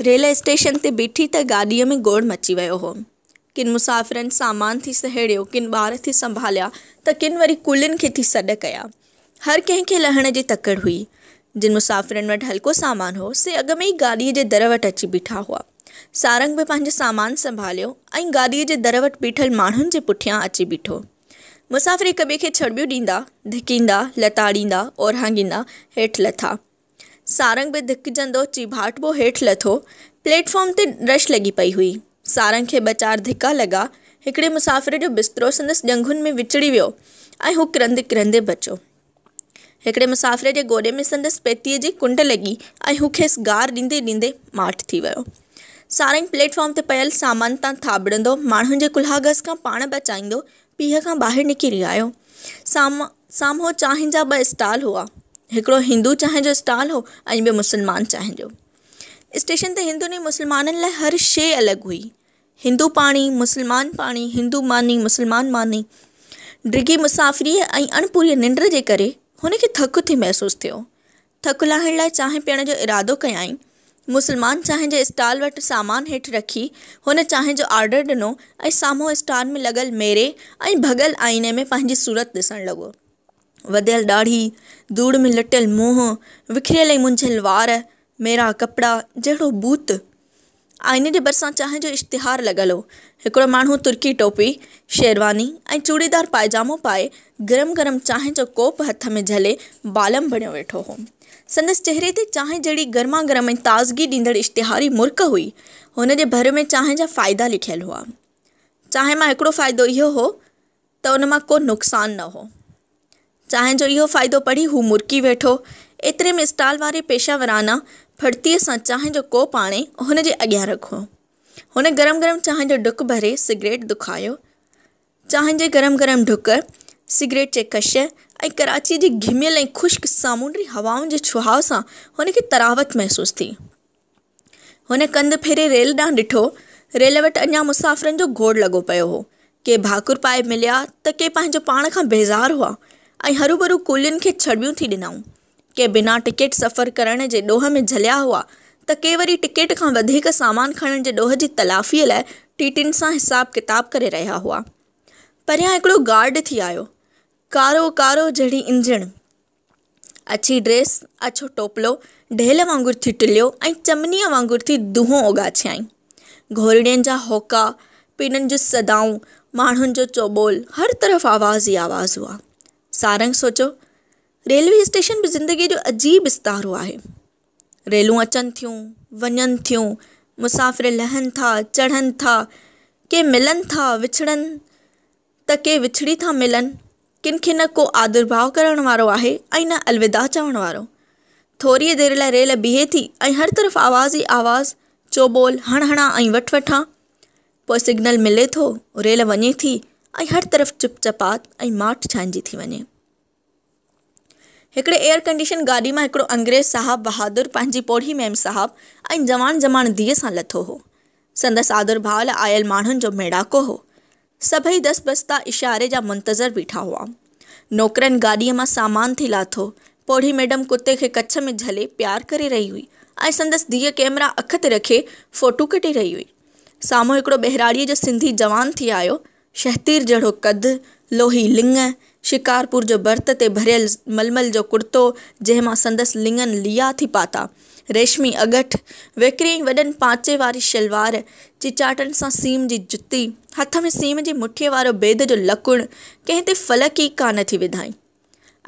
Railway station تي بيٺي ته گاڏيء ۾ گوڙ مچي ويو هو. ڪن مسافرن سامان ٿي سهيڙيو، ڪن ٻار ٿي سنڀاليا ته ڪن وري ڪلين کي ٿي سڏ ڪيا. هر ڪنهن کي لهڻ جي تڪڙ هئي. جن مسافرن وٽ هلڪو سامان هو، سي اڳ ۾ ئي گاڏيء جي در وٽ اچي بيٺا هئا. سارنگ به پنهنجو سامان سنڀاليو ۽ گاڏيء جي در وٽ بيٺل ماڻهن جي پٺيان اچي بيٺو. مسافر هڪ ٻئي کي ڇڙٻيون ڏيندا، ڌڪيندا، لتاڙيندا، اورهاڱيندا هيٺ لٿا. سارنگ به ڌڪجندو چيڀاٽبو هيٺ لٿو. پليٽ فارم تي رش لڳي پئي هئي. سارنگ کي ٻه چار ڌڪا لڳا. هڪڙي مسافر جو بسترو سندس ڄنگهن ۾ وچڙي ويو ۽ هو ڪرندي ڪرندي بچو. هڪڙي مسافر جي گوڏي ۾ سندس پيتيء جي ڪنڊ لڳي ۽ هو کيس گار ڏيندي ڏيندي ماٺ ٿي ويو. سارنگ پليٽ فارم تي پيل سامان تان ٿاٻڙندو، ماڻهن جي ڪلهاڳس کان پاڻ بچائيندو، پيهه کان ٻاهر نڪري آيو. سامهون سامهون چانهه جا ٻه اسٽال هئا. هڪڙو هندو چانهه جو اسٽال هو ۽ ٻيو مسلمان چانهه جو. اسٽيشن تي هندن ۽ مسلمانن لاء هر شيء الڳ هئي. هندو پاڻي، مسلمان پاڻي، هندو ماني، مسلمان ماني. ڊگهي مسافريء ۽ اڻپوريء ننڊ جي ڪري هن کي ٿڪ ٿي محسوس ٿيو. ٿڪ لاهڻ لاء چانهه پيئڻ جو ارادو ڪيائين. مسلمان چانهه جي اسٽال وٽ سامان هيٺ رکي، هن چانهه جو آرڊر ڏنو ۽ سامهون اسٽال ۾ لڳل ميري ۽ ڀڳل آئيني ۾ پنهنجي صورت ڏسڻ لڳو. وڌيل ڏاڙهي، ڌوڙ ۾ لٽيل منهن، وکريل ۽ منجهيل وار، ميرا ڪپڙا، جهڙو ڀوت! آئيني جي ڀرسان چانهه جو اشتهار لڳل هو. هڪڙو ماڻهو ترڪي ٽوپي، شيرواني ۽ چوڙيدار پائجامو پائي گرم گرم چانهه جو ڪوپ هٿ ۾ جهلي بالم بڻيو ويٺو هو. سندس چهري تي چانهه جهڙي گرما گرم ۽ تازگي ڏيندڙ اشتهاري مرڪ هئي. هن جي ڀر ۾ چانهه جا فائدا لکيل هئا. چانهه مان هڪڙو فائدو اهو هو. ته ان مان ڪو نقصان نه هو. چانهه جو اهو فائدو پڙهي هو مرڪي ويٺو. ايتري ۾ اسٽال واري پيشه ورانه ڦڙتيء سان چانهه جو ڪوپ آڻي هن جي اڳيان رکو. هن گرم گرم چانهه جو ڍڪ ڀري سگريٽ دکايو. چانهه جي گرم گرم ڍڪ، سگريٽ جي ڪش ۽ ڪراچيء جي گهميل ۽ خشڪ سامونڊي هوائن جي ڇهاء سان هن کي طراوت محسوس ٿي. هن ڪنڌ ڦيري ريل ڏانهن ڏٺو. ريل وٽ اڃا مسافرن جو گوڙ لڳو پيو هو. ڪي ڀاڪر پائي مليا ته ڪي پنهنجو پاڻ کان بيزار هئا ۽ هروڀرو ڪولين کي ڇڙٻيون ٿي ڏنائون. ڪي بنا ٽڪيٽ سفر ڪرڻ جي ڏوهه ۾ جهليا هئا ته ڪي وري ٽڪيٽ کان وڌيڪ سامان کڻڻ جي ڏوهه جي تلافيء لاء ٽي ٽين سان حساب ڪتاب ڪري رهيا هئا. پريان هڪڙو گارڊ ٿي آيو. ڪارو ڪارو جهڙي انجڻ. اڇي ڊريس، اڇو ٽوپلو، ڍيل وانگر ٿي ٽليو ۽ چمنيء وانگر ٿي دونهون اوڳاڇيائين. گهورڙين جا هوڪا، پيرن جون صدائون، ماڻهن جو چوٻول، هر طرف آواز ئي آواز هئا. سارنگ سوچيو، ريلوي اسٽيشن به زندگيء جو عجيب استعارو آهي. ريلون اچن ٿيون، وڃن ٿيون، مسافر لهن ٿا، چڙهن ٿا، ڪي ملن ٿا، وڇڙن. ته ڪي وڇڙي ٿا ملن، ڪن کي نه ڪو آڌرڀاء ڪرڻ وارو آهي ۽ نه الوداع چوڻ وارو. ٿوريء دير لاء ريل بيهي ٿي ۽ هر طرف آواز ئي آواز، چوٻول، هڻ هڻان ۽ وٺ وٺان. پوء سگنل ملي ٿو، ريل وڃي ٿي ۽ هر طرف چپ چپات ۽ ماٺ ڇانئجي ٿي وڃي. هڪڙي ايئر ڪنڊيشن گاڏي مان هڪڙو انگريز صاحب بهادر پنهنجي پوڙهي ميم صاحب ۽ جوان جماڻ ڌيء سان لٿو هو. سندس آڌر ڀاء لاء آيل ماڻهن جو ميڙاڪو هو. سڀئي دس بستا اشاري جا منتظر بيٺا هئا. نوڪرن گاڏيء مان سامان ٿي لاٿو. پوڙهي ميڊم ڪتي کي ڪڇ ۾ جهلي پيار ڪري رهي هئي ۽ سندس ڌيء ڪئميرا اک تي رکي فوٽو ڪڍي رهي هئي. سامهون هڪڙو ٻهراڙيء جو سنڌي جوان ٿي آيو. شهتير جهڙو قد، لوهي لڱ، شڪارپور جو ڀرت تي ڀريل ململ جو ڪڙتو، جنهن مان سندس لڱن ليئا ٿي پاتا، ريشمي اڳٺ، ويڪري وڏن پانچي واري شلوار، چيچاٽن سان سيم جي جتي، هٿ ۾ سيم جي مٺيء وارو بيد جو لڪڻ، ڪنهن تي فلڪ ئي ڪا نه ٿي وڌائين.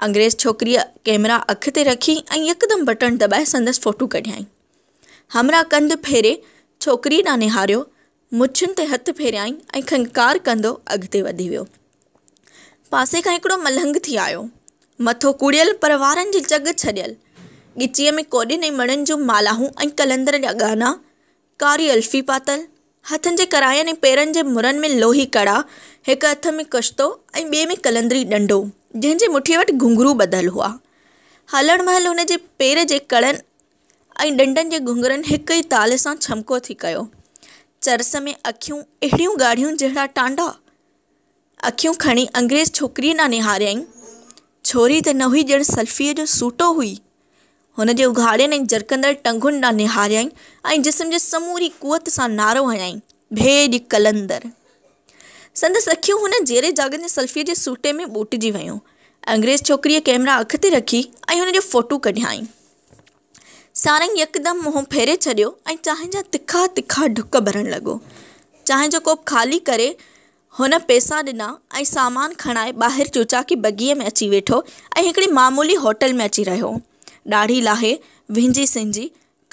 انگريز ڇوڪريء ڪئميرا اک تي رکي ۽ يڪدم بٽڻ دٻائي سندس فوٽو ڪڍيائين. همراهه ڪنڌ ڦيري ڇوڪريء ڏانهن نهاريو، مڇن تي هٿ ڦيريائين ۽ کنڪار ڪندو اڳتي وڌي ويو. پاسي کان هڪڙو ملنگ ٿي آيو. مٿو ڪوڙيل پر وارن جي چڳ ڇڏيل. ڳچيء ۾ ڪوڏين ۽ مڻين جون مالاهون ۽ قلندر جا ڳهنا. ڪاري الفي پاتل. هٿن جي ڪراين ۽ پيرن جي مرن ۾ لوهي ڪڙا. هڪ هٿ ۾ ڪشتو ۽ ٻئي ۾ قلندري ڏنڊو، جنهن جي مٺيء وٽ گهنگهرو ٻڌل هئا. هلڻ مهل هن جي پير جي ڪڙن ۽ ڏنڊن جي گهنگرن هڪ ئي تال سان ڇمڪو ٿي ڪيو. چرس ۾ اکيون اهڙيون ڳاڙهيون جهڙا ٽانڊا. اکيون کڻي انگريز ڇوڪريء ڏانهن نهاريائين. ڇوري ته نه هئي ڄڻ سلفيء جو سوٽو هئي. هن جي اگهاڙين ۽ جرڪندڙ ٽنگن ڏانهن نهاريائين ۽ جسم جي سموري قوت سان نعرو هنيائين، ڀيڄ قلندر! سندس اکيون هن جيري جاڳن جي سلفيء جي سوٽي ۾ ٻوٽجي ويون. انگريز ڇوڪريء ڪئميرا اک تي رکي ۽ هن جو فوٽو ڪڍيائين. سارنگ يڪدم منهن ڦيري ڇڏيو ۽ چانهه جا تکا تکا ڍڪ ڀرڻ لڳو. چانهه جو ڪوپ خالي ڪري هن پئسا ڏنا ۽ سامان کڻائي ٻاهر چوچاڪي بگيء ۾ اچي ويٺو ۽ هڪڙي معمولي هوٽل ۾ اچي رهيو. ڏاڙهي لاهي، وهنجي سنجي،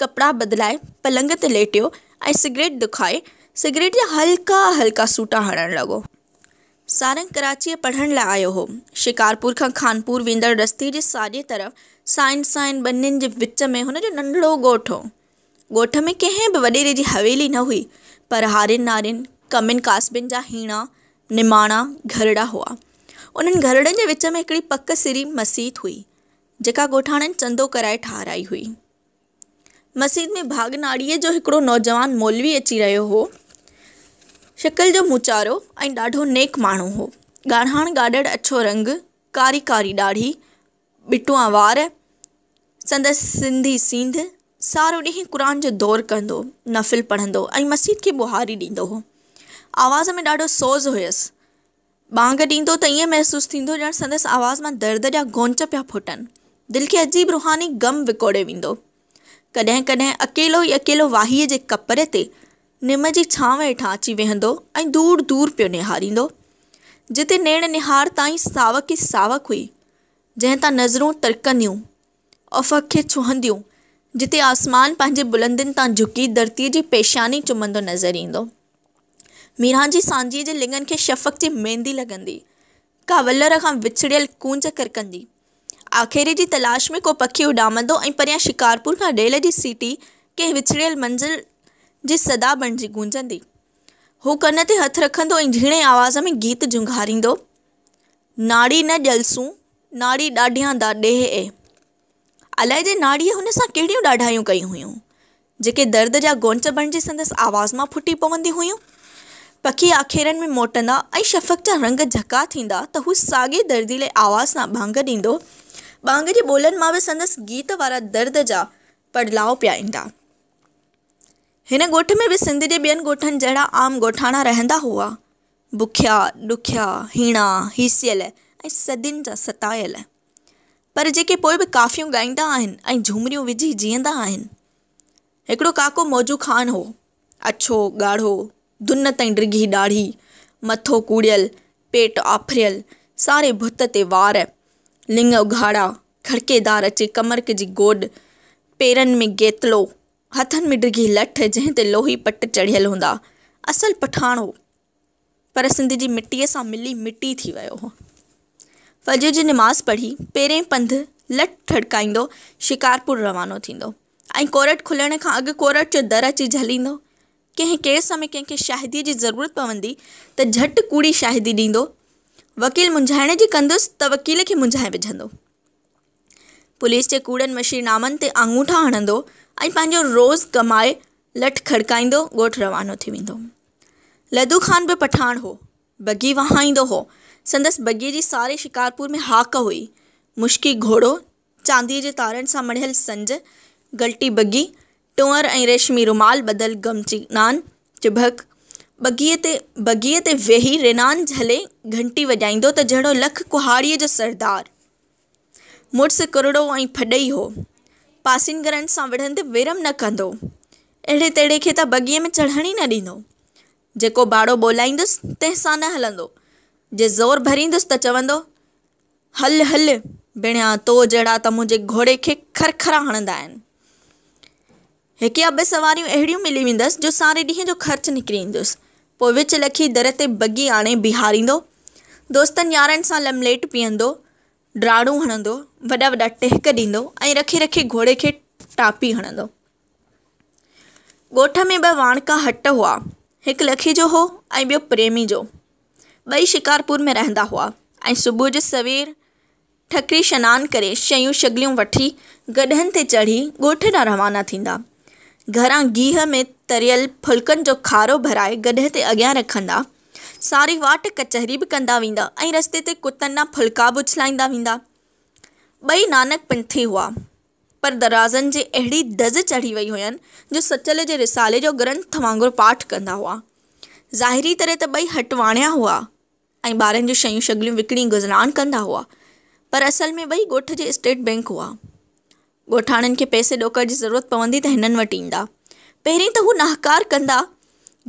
ڪپڙا بدلائي، پلنگ تي ليٽيو ۽ سگريٽ دکائي، سگريٽ جا هلڪا هلڪا سوٽا هڻڻ لڳو. سارنگ ڪراچيء پڙهڻ لاء آيو هو. شڪارپور کان خانپور ويندڙ رستي جي ساڄي طرف سائين سائين ٻنين جي وچ ۾ هن جو ننڍڙو ڳوٺ هو. ڳوٺ ۾ ڪنهن به وڏيري جي حويلي نه هئي، پر هارين نارين، ڪمين ڪاسبين جا هيڻا، نماڻا، گهرڙا هئا. انهن گهرڙن جي وچ ۾ هڪڙي پڪ سري مسيت هئي، جيڪا ڳوٺاڻن چندو ڪرائي ٺاهرائي هئي. مسيت ۾ ڀاڳ ناڙيء جو هڪڙو نوجوان مولوي اچي رهيو هو. شڪل جو موچارو ۽ ڏاڍو نيڪ ماڻهو هو. ڳاڙهاڻ ڳاڙهڙ اڇو رنگ، ڪاري ڪاري ڏاڙهي، ٻٽوئا وار. سندس سنڌي سينڌ. سارو ڏينهن قرآن جو دور ڪندو، نفل پڙهندو ۽ مسيت کي ٻهاري ڏيندو هو. آواز ۾ ڏاڍو سوز هيس. ٻانگ ڏيندو ته ائين محسوس ٿيندو ڄڻ سندس آواز مان درد جا گونچ پيا ڦٽن. دل کي عجيب روحاني غم وڪوڙي ويندو. ڪڏهن ڪڏهن اڪيلو ئي اڪيلو واهيء جي ڪپري تي نم جي ڇانو هيٺان اچي ويهندو ۽ دور دور پيو نهاريندو. جتي نيڻ نهار تائين ساوڪ ئي ساوڪ هئي، جنهن تان نظرون ترڪنديون. افق کي ڇهنديون، جتي آسمان پنهنجي بلندين تان جهڪي ڌرتيء جي پيشاني چمندو نظر ايندو. ميران جي سانجهيء جي لڱن کي شفق جي ميندي لڳندي، ڪا ولر کان وڇڙيل ڪونج ڪرڪندي، آکيري جي تلاش ۾ ڪو پکي اڏامندو ۽ پريان شڪارپور کان ريل جي سيٽي ڪنهن وڇڙيل منزل جي صدا بڻجي گونجندي، هو ڪن تي هٿ رکندو ۽ جهيڻي آواز ۾ گيت جهونگاريندو ناڙي نه ڄلسون، ناڙي ڏاڍيان دا ڏيهه اي. علائدي ناڙيء هن سان ڪهڙيون ڏاڍايون ڪيون هيون، جيڪي درد جا گونچ بڻجي سندس آواز مان ڦٽي پونديون هيون. پکي آکيرن ۾ موٽندا ۽ شفق جا رنگ جهڪا ٿيندا ته هو ساڳئي درديلي آواز سان ٻانگ ڏيندو. ٻانگ جي ٻولن مان به سندس گيت وارا درد جا پڙلاء پيا ايندا. هن ڳوٺ ۾ به سنڌ جي ٻين ڳوٺن جهڙا عام ڳوٺاڻا رهندا هئا. بکيا، ڏکيا، هيڻا، هيسيل ۽ صدين جا ستايل. پر جيڪي پوء به ڪافيون ڳائيندا آهن ۽ جهومريون وجهي جيئندا آهن. هڪڙو ڪاڪو موجو خان هو. اڇو، ڳاڙهو، دن تائين ڊگهي ڏاڙهي، مٿو ڪوڙيل، پيٽ آڦريل، ساري ڀت تي وار، لڱ اگهاڙا، کڙڪيدار اچي ڪمرڪ جي گوڏ، پيرن ۾ گيتلو، هٿن ۾ ڊگهي لٺ جنهن تي لوهي پٽ چڙهيل هوندا. اصل پٺاڻ هو پر سنڌ جي مٽيء سان ملي مٽي ٿي ويو هو. فجر جي نماز پڙهي پيرين پنڌ لٺ ٿڙڪائيندو شڪارپور روانو ٿيندو ۽ ڪورٽ کلڻ کان اڳ ڪورٽ جو در اچي جهليندو. ڪنهن ڪيس ۾ ڪنهن کي شاهديء جي ضرورت پوندي ته جهٽ ڪوڙي شاهدي ڏيندو. وڪيل منجهائڻ جي ڪندس ته وڪيل کي منجهائي وجهندو. پوليس جي ڪوڙن مشير نامن تي آڱوٺا هڻندو ۽ پنهنجو روز ڪمائي لٺ کڙڪائيندو ڳوٺ روانو ٿي ويندو. لڌو خان به پٺاڻ هو. بگي وهائيندو هو. سندس بگيء جي ساري شڪارپور ۾ هاڪ هئي. مشڪي گهوڙو، چانديء جي تارن سان مڙهيل سنج، گلٽي بگي، ٽونئر ۽ ريشمي رومال ٻڌل گمچي نان، چڀڪ، بگيء تي بگيء تي ويهي رينان جهلي گهنٽي وڄائيندو ته جهڙو لک ڪهاڙيء جو سردار. مڙس ڪرڙو ۽ ڦڏئي هو. پاسين گهرن سان وڙهندي ويرم نه ڪندو. اهڙي تيڙي کي ته بگيء ۾ چڙهڻ ئي نه ڏيندو. جيڪو ٻاڙو ٻولائيندس، تنهن سان نه هلندو. جي زور ڀريندس ته چوندو، هل هل، بڻيا تو جهڙا ته منهنجي گهوڙي کي کرکرا هڻندا آهن. هڪ يا ٻه سواريون اهڙيون ملي ويندس جو ساري ڏينهن جو خرچ نڪري ايندس. پوء وچ لکي در تي بگي آڻي بيهاريندو. دوستن يارن سان لمليٽ پيئندو، ڊاڙون هڻندو، وڏا وڏا ٽهڪ ڏيندو ۽ رکي رکي گهوڙي کي ٽاپي هڻندو. ڳوٺ ۾ ٻه واڻڪا هٽ هئا. هڪ لکي جو هو ۽ ٻيو پريمي جو. ٻئي شڪارپور ۾ رهندا هئا ۽ صبح جو سوير، ٺڪري شنان ڪري شيون شگليون وٺي گڏهن تي چڙهي ڳوٺ ڏانهن روانا ٿيندا. گهران گيهه ۾ تريل ڦلڪن جو کارو ڀرائي گڏهه تي اڳيان رکندا. ساري واٽ ڪچهري به ڪندا ويندا ۽ رستي تي ڪتن ڏانهن ڦلڪا به اڇلائيندا ويندا. ٻئي نانڪ پنٿي هئا، پر درازن جي اهڙي دز چڙهي وئي هين جو سچل جي رسالي جو گرنٿ وانگر پاٺ ڪندا هئا. ظاهري طرح ته ٻئي هٽواڻيا هئا. ۽ ٻارن جون شيون شگليون وڪڻي گذران ڪندا هئا پر اصل ۾ ٻئي ڳوٺ جي اسٽيٽ بئنڪ هئا. ڳوٺاڻن کي پئسي ڏوڪڙ جي ضرورت پوندي ته هنن وٽ ايندا. پهرين ته هو نهڪار ڪندا،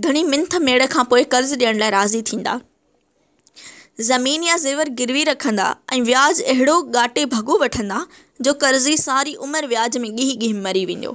گهڻي منٿ ميڙ کان پوء قرض ڏيڻ لاء راضي ٿيندا. زمين يا زيور گروي رکندا ۽ وياج اهڙو ڳاٽي ڀڳو وٺندا جو قرضي ساري عمر وياج ۾ ڳهي ڳهي مري ويندو.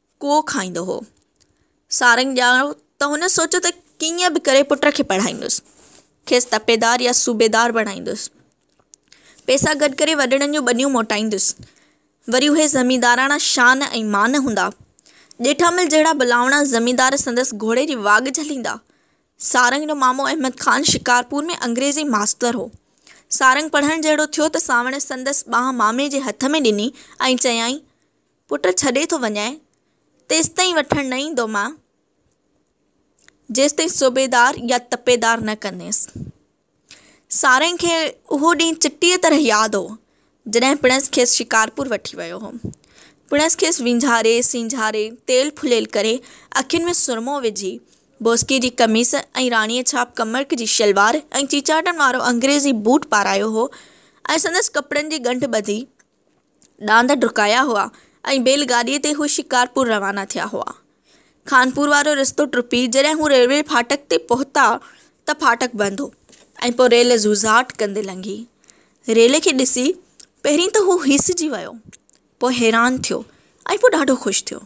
ڪو کائيندو هو. سارنگ ڄاڻو ته هن سوچيو ته ڪيئن به ڪري پٽ کي پڙهائيندس. کيس تپيدار يا صوبيدار بڻائيندس. پئسا گڏ ڪري وڏڙن جون ٻنيون موٽائيندس. وري اهي زمينداراڻا شان ۽ مان هوندا. ڄيٺامل جهڙا بلاوڻا زميندار سندس گهوڙي جي واڳ جهليندا. سارنگ جو مامو احمد خان شڪارپور ۾ انگريزي ماستر هو. سارنگ پڙهڻ جهڙو ٿيو ته سانوڻ سندس ٻانهن مامي جي هٿ ۾ ڏني ۽ چيائين، پٽ ڇڏي ٿو وڃانء، تيستائين وٺڻ نه ايندو مان، جيستائين صوبيدار يا تپيدار نه ڪنديس. سارنگ کي اهو ڏينهن چٽيء طرح ياد هو، جڏهن پڻس کيس شڪارپور وٺي ويو هو. پڻس کيس وينجهاري، سينجهاري، تيل ڦليل ڪري، اکين ۾ سرمو وجهي، بوسڪي جي قميص ۽ راڻيء ڇاپ ڪمرڪ جي شلوار ۽ چيچاٽن وارو انگريزي بوٽ پارايو هو ۽ سندس ڪپڙن جي ڳنڍ ٻڌي، ڏاند ڊڪايا هئا ۽ بيل گاڏيء تي هو شڪارپور روانا ٿيا هئا. خانپور وارو رستو ٽپي جڏهن هو ريلوي ڦاٽڪ تي پهتا ته ڦاٽڪ بند هو ۽ پوء ريل زوزاٽ ڪندي لنگهي. ريل کي ڏسي پهرين ته هو هيسجي ويو، پوء حيران ٿيو ۽ پوء ڏاڍو خوش ٿيو.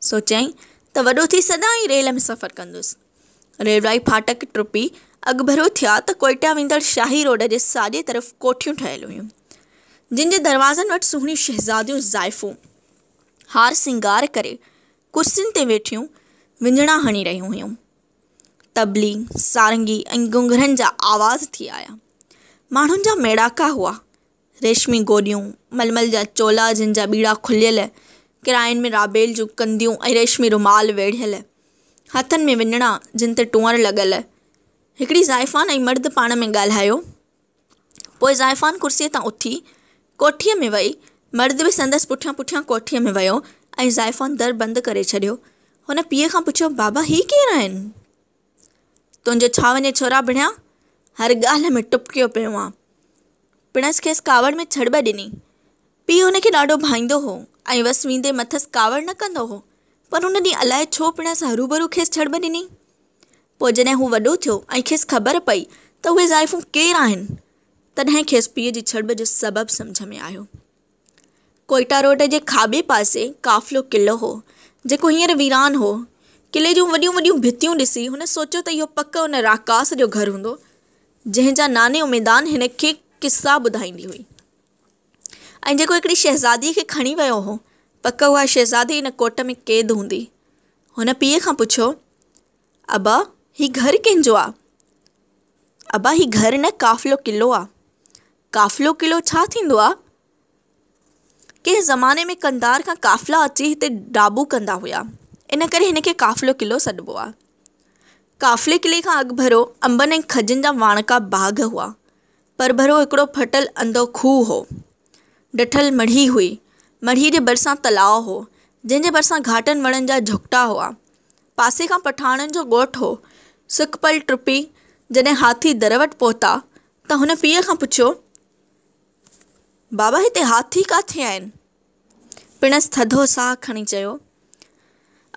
سوچيائين ته وڏو ٿي سدائين ئي ريل ۾ سفر ڪندس. ريلوائي ڦاٽڪ ٽپي اڳڀرو ٿيا ته ڪوئيٽا ويندڙ شاهي روڊ جي ساڄي طرف ڪوٺيون ٺهيل هيون، جن جي دروازن وٽ سهڻيون شهزاديون زائفون هار سينگار ڪري ڪرسين تي ويٺيون وڃڻا هڻي رهيون هيون. طبلي، سارنگي ۽ گونگرن جا آواز ٿي آيا. ماڻهن جا ميڙاڪا هئا. ريشمي گوڏيون، ململ جا چولا جن جا ٻيڙا کليل، ڪرائن ۾ رابيل جون ڪنديون ۽ ريشمي رومال ويڙهيل، هٿن ۾ وڃڻا جن تي ٽونئر لڳل. هڪڙي زائفان ۽ مرد پاڻ ۾ ڳالهايو. پوء زائفان ڪرسيء تان اٿي، ڪوٺيء ۾ وئي. مرد به سندس پٺيان پٺيان ڪوٺيء ۾ ويو ۽ زائفان در بند ڪري ڇڏيو. هن پيء کان پڇيو، بابا هي ڪير آهن؟ تنهنجو ڇا وڃي ڇورا ڀڻيا، هر ڳالهه ۾ ٽپڪيو پيو آن. پڻس کيس ڪاوڙ ۾ ڇڙٻ ڏني. پيء هن کي ڏاڍو ڀائيندو هو ۽ وس ويندي مٿس ڪاوڙ نه ڪندو هو، پر ان ڏينهن الاء ڇو پڻس هروڀرو کيس ڇڙٻ ڏني. پوء جڏهن هو وڏو ٿيو ۽ کيس خبر پئي ته اهي زائفون ڪير آهن، تڏهن کيس پيء جي ڇڙٻ جو سبب سمجهه ۾ آيو. ڪوئيٽا روڊ جي کاٻي پاسي قافلو قلعو هو، جيڪو هينئر ويران هو. قلعي جون وڏيون وڏيون ڀتيون ڏسي، هن سوچيو ته اهو پڪ ان راڪاس جو گهر هوندو، جنهن جا ناني اميدان هن کي قصا ٻڌائيندي هئي ۽ جيڪو هڪڙي شهزاديء کي کڻي ويو هو. پڪ اها شهزادي ان ڪوٽ ۾ قيد هوندي. هن پيء کان پڇيو، ابا، هي گهر ڪنهن جو آ؟ ابا، هي گهر نه، قافلو قلعو آ. قافلو قلعو ڇا ٿيندو آ؟ ڪنهن زماني ۾ قنڌار کان قافلا اچي هتي ڊاٻو ڪندا هيا ان ڪري هن کي قافلو قلعو سڏبو آ. قافلي قلعي کان اڳڀرو انبن ۽ کجين جا واڻڪا باغ هئا. پرڀرو هڪڙو ڦٽل انڌو کوهه هو. ڊٺل مڙهي هئي. مڙهي جي ڀرسان تلاء هو. جنهن جي ڀرسان گهاٽن وڻن جا جهڪٽا هئا. پاسي کان پٺاڻن جو ڳوٺ هو. سک پل ٽپي جڏهن هاٿي در وٽ پهتا ته هن پيء کان پڇيو، بابا هتي هاٿي ڪاٿي آهن؟ پڻس ٿڌو ساهه کڻي چيو،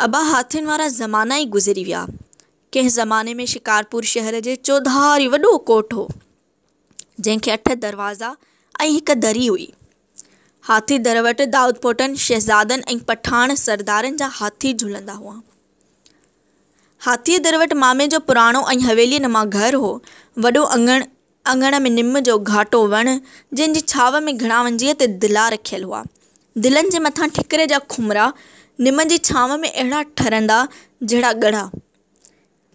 ابا هاٿين وارا زمانا ئي گذري ويا. ڪنهن زماني ۾ شڪارپور شهر جي چوڌاري وڏو ڪوٽ هو، جنهن کي اٺ دروازا ۽ هڪ دري هئي. هاٿي در وٽ دائودپوٽن، شهزادن ۽ پٺاڻ سردارن جا هاٿي جهلندا هئا. هاٿيء در وٽ مامي جو پراڻو ۽ حويليء نما گهر هو. وڏو اڱڻ، اڱڻ ۾ نم جو گهاٽو وڻ، جنهن جي ڇانو ۾ گهڻا ونجهيء تي دلا رکيل هئا. دلن جي مٿان ٺڪري جا کمرا، نم جي ڇانو ۾ اهڙا ٺرندا، جهڙا ڳڙها.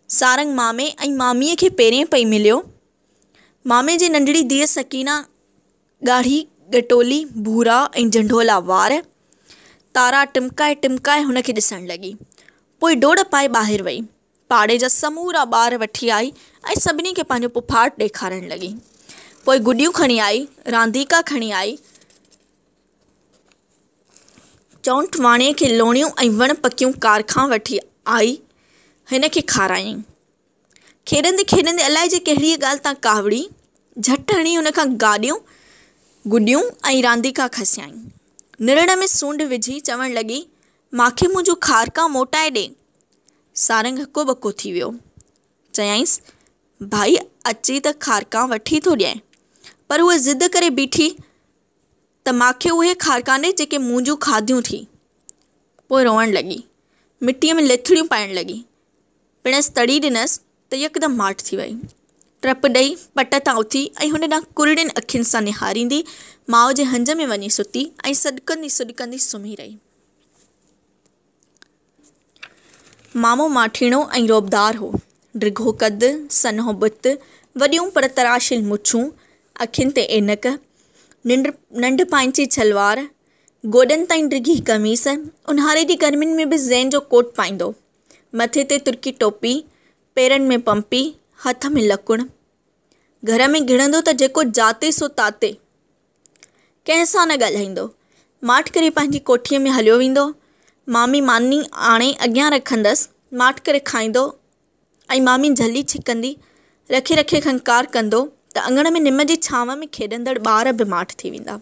سارنگ مامي ۽ ماميء کي پيرين پئي مليو. مامي جي ننڍڙي ڌيء سڪينه ڳاڙهي ڳٽولي ڀورا ۽ جنڍولا وار. تارا ٽمڪائي ٽمڪائي هن کي ڏسڻ لڳي. پوء ڊوڙ پائي ٻاهر وئي. پاڙي جا سمورا ٻار وٺي آئي ۽ سڀني کي پنهنجو پڦاٽ ڏيکارڻ لڳي. پوء گڏيون کڻي آئي، رانديڪا کڻي آئي، چؤنٺ واڻيء کي لوڻيون ۽ وڻ پڪيون ڪار کان وٺي آئي هن کي کارايائين. کيڏندي کيڏندي الائي جي ڪهڙيء ڳالهه تان ڪاوڙي، جهٽ هڻي هن کان گاڏيون، گڏيون ۽ رانديڪا کسيائين. نرڙ ۾ سونڊ وجهي چوڻ لڳي، ماکي منهنجون کارڪان موٽائي ڏي. سارنگ هڪو ٻڪو ٿي ويو. چيائينس، ڀائي اچي ته کارڪان وٺي ٿو ڏينء. پر هوء ضد ڪري بيٺي ته ماکي اهي کارڪان ڏي جيڪي منهنجون کاڌيون ٿي. پوء روئڻ لڳي. مٽيء ۾ ليٿڙيون پائڻ لڳي. پڻس تڙي ڏنس ته يڪدم ماٺ ٿي ويئي. ٽپ ڏئي پٽ تان اٿي ۽ هن ڏانهن ڪرڙين اکين سان نهاريندي ماء جي هنج ۾ وڃي ستي ۽ سڏڪندي سڏڪندي سمهي رهي. مامو ماٺيڻو ۽ رعبدار هو. ڊگهو قد، سنهو بت، وڏيون پر تراشيل مڇون، اکين تي عينڪ، ننڍ پائنچي ڇلوار، گوڏن تائين ڊگهي قميص، اونهاري جي گرمين ۾ به زين جو ڪوٽ پائيندو هو. مٿي تي ترڪي ٽوپي، پيرن ۾ پمپي، هٿ ۾ لڪڻ. گهر ۾ گهڙندو ته جيڪو جاتي سو تاتي. ڪنهن سان نه ڳالهائيندو. ماٺ ڪري پنهنجي ڪوٺيء ۾ هليو ويندو. مامي ماني آڻي اڳيان رکندس، ماٺ ڪري کائيندو ۽ مامي جهلي ڇڪندي، رکي رکي کنڪار ڪندو ته اڱڻ ۾ نم جي ڇانو ۾ کيڏندڙ ٻار به ماٺ ٿي ويندا.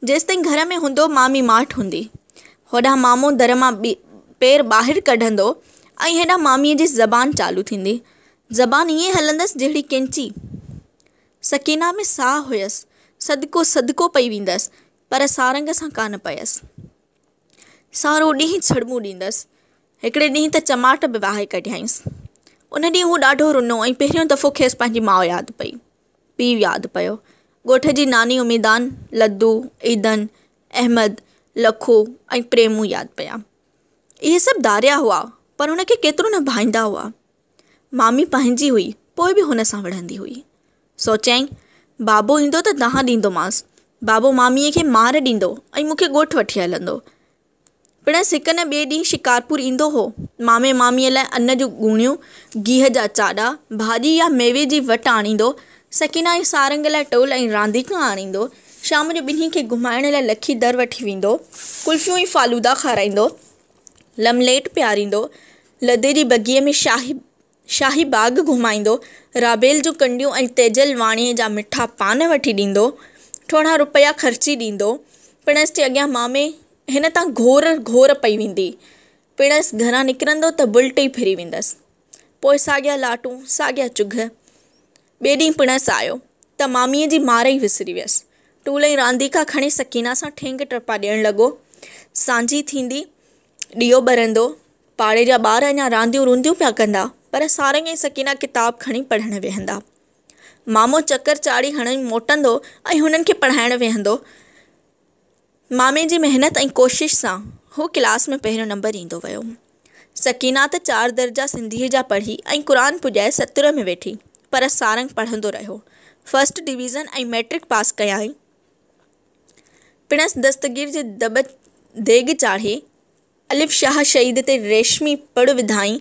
جيستائين گهر ۾ هوندو مامي ماٺ هوندي. هوڏانهن مامو در مان پير ٻاهر ڪڍندو ۽ هيڏانهن ماميء جي زبان چالو ٿيندي. زبان ائين هلندس جهڙي ڪينچي. سڪينه ۾ ساهه هيس. صدقو صدقو پئي ويندس پر سارنگ سان ڪانه پيس. سارو ڏينهن ڇڙٻون ڏيندس. هڪڙي ڏينهن ته چماٽ به وهائي ڪڍيائينس. ان ڏينهن هو ڏاڍو رنو ۽ پهريون دفعو کيس پنهنجي ماء ياد پئي. پيء ياد پيو. ڳوٺ جي ناني اميدان، لدو، عيدن، احمد، لکو ۽ پريمون ياد پيا. اهي سڀ ڌاريا هئا پر هن کي ڪيترو نه ڀائيندا هئا. مامي پنهنجي هئي پوء به هن سان وڙهندي هئي. سوچيائين، بابو ايندو ته دانهن ڏيندومانس. بابو ماميء کي مار ڏيندو ۽ مون کي ڳوٺ وٺي هلندو. پڻس هڪ نه ٻئي ڏينهن شڪارپور ايندو هو. مامي ماميء لاء ان جون ڳوڻيون، گيهه جا چاڏا، ڀاڄي يا ميوي جي وٽ آڻيندو. سڪينه ۽ سارنگ لاء ٽول ۽ رانديڪا آڻيندو. شام جو ٻنهي کي گهمائڻ لاء لکي در وٺي ويندو. ڪلفيون ۽ فالودا کارائيندو. لمليٽ پياريندو. لڌي جي بگيء ۾ شاهي شاهي باغ گهمائيندو، رابيل جون ڪنڊيون ۽ تيجل واڻيي جا مٺا پان وٺي ڏيندو، ٿورا رپيا خرچي ڏيندو، پڻس جي اڳيان مامي هن تان گهور گهور پئي ويندي. پڻس گهران نڪرندو ته بلٽ ئي ڦري ويندس. پوء ساڳيا لاٽون، ساڳيا چگهه. ٻئي ڏينهن پڻس آيو ته ماميء جي مار ئي وسري ويس. ٽول ۽ رانديڪا کڻي سڪينه سان ٺينگ ٽپا ڏيڻ لڳو. سانجهي ٿيندي. ڏيئو ٻرندو، پاڙي جا ٻار اڃا رانديون رونديون پيا ڪندا، پر سارنگ ۽ سڪينه ڪتاب کڻي پڙهڻ ويهندا. مامو چڪر چاڙهي هڻي موٽندو ۽ هنن کي پڙهائڻ ويهندو. مامي جي محنت ۽ ڪوشش سان هو ڪلاس ۾ پهريون نمبر ايندو ويو. سڪينه ته چار درجا سنڌيء جا پڙهي ۽ قرآن پڄائي ستر ۾ ويٺي، پر سارنگ پڙهندو رهيو. فرسٽ ڊويزن ۽ مئٽرڪ پاس ڪيائين. پڻس دستگير جي دٻ ديڳ چاڙهي، الف شاهه شهيد تي ريشمي پڙ وڌائين،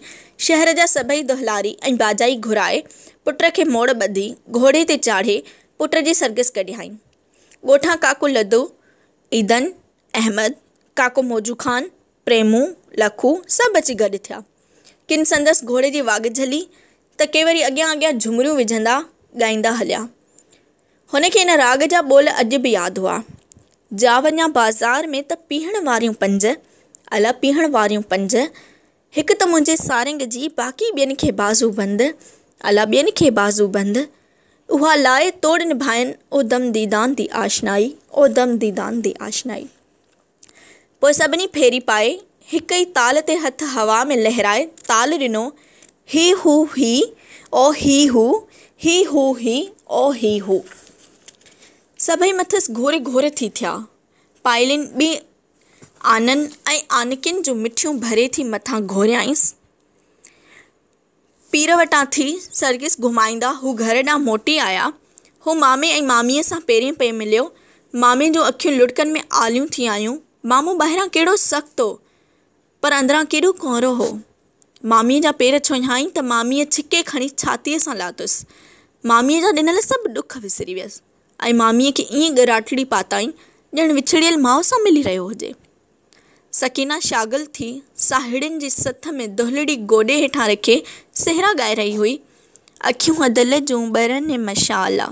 شهر جا سڀئي دهلاري ۽ باجائي گهرائي، پٽ کي موڙ ٻڌي، گهوڙي تي چاڙهي، پٽ جي سرگس ڪڍيائين. ڳوٺان ڪاڪو لڌو، عيدن، احمد، ڪاڪو موجو خان، پريمون، لکو سڀ اچي گڏ ٿيا. ڪن سندس گهوڙي جي واڳ جهلي، ته ڪي وري اڳيان اڳيان جهمريون وجهندا، ڳائيندا هليا. هن کي ان راڳ جا ٻول اڄ به ياد هئا. جا وڃان بازار ۾ ته پيهڻ واريون پنج، الا پيهڻ واريون پنج، هڪ ته منهنجي سارنگ جي، باقي ٻين کي بازو بند، الا ٻين کي بازو بند، اها لاء توڙ نڀائن، او دم ديدان دي آشنائي، او دم ديدان دي آشنائي. پوء سڀني ڦيري پائي، هڪ ئي تال تي هٿ هوا ۾ لهرائي تال ڏنو، هي هو هي او هي هو، هي هو هي او هي هو. سڀئي مٿس گهوري گهوري ٿي ٿيا. پائلين ٻئي آنن ۽ آنڪين جون مٺيون ڀري ٿي مٿان گهوريائينس. پير وٽان ٿي سرگس گهمائيندا هو گهر ڏانهن موٽي آيا. هو مامي ۽ ماميء سان پيرين پئي مليو. مامي جون اکيون لڙڪن ۾ آليون ٿي آيون. مامو ٻاهران ڪهڙو سخت هو، پر اندران ڪيڏو ڪؤرو هو. ماميء جا پير ڇهيائين ته ماميء ڇڪي کڻي ڇاتيء سان لاتس. ماميء جا ڏنل سڀ ڏک وسري ويس ۽ ماميء کي ائين ڳراٽڙي پاتائين، ڄڻ وڇڙيل ماء سان ملي رهيو هجي. سڪينه شاغل ٿي ساهيڙين جي سٿ ۾ دهلڙي گوڏي هيٺان رکي سهرا ڳائي رهي هئي. اکيون دل جون ٻرن ۽ مشال آ.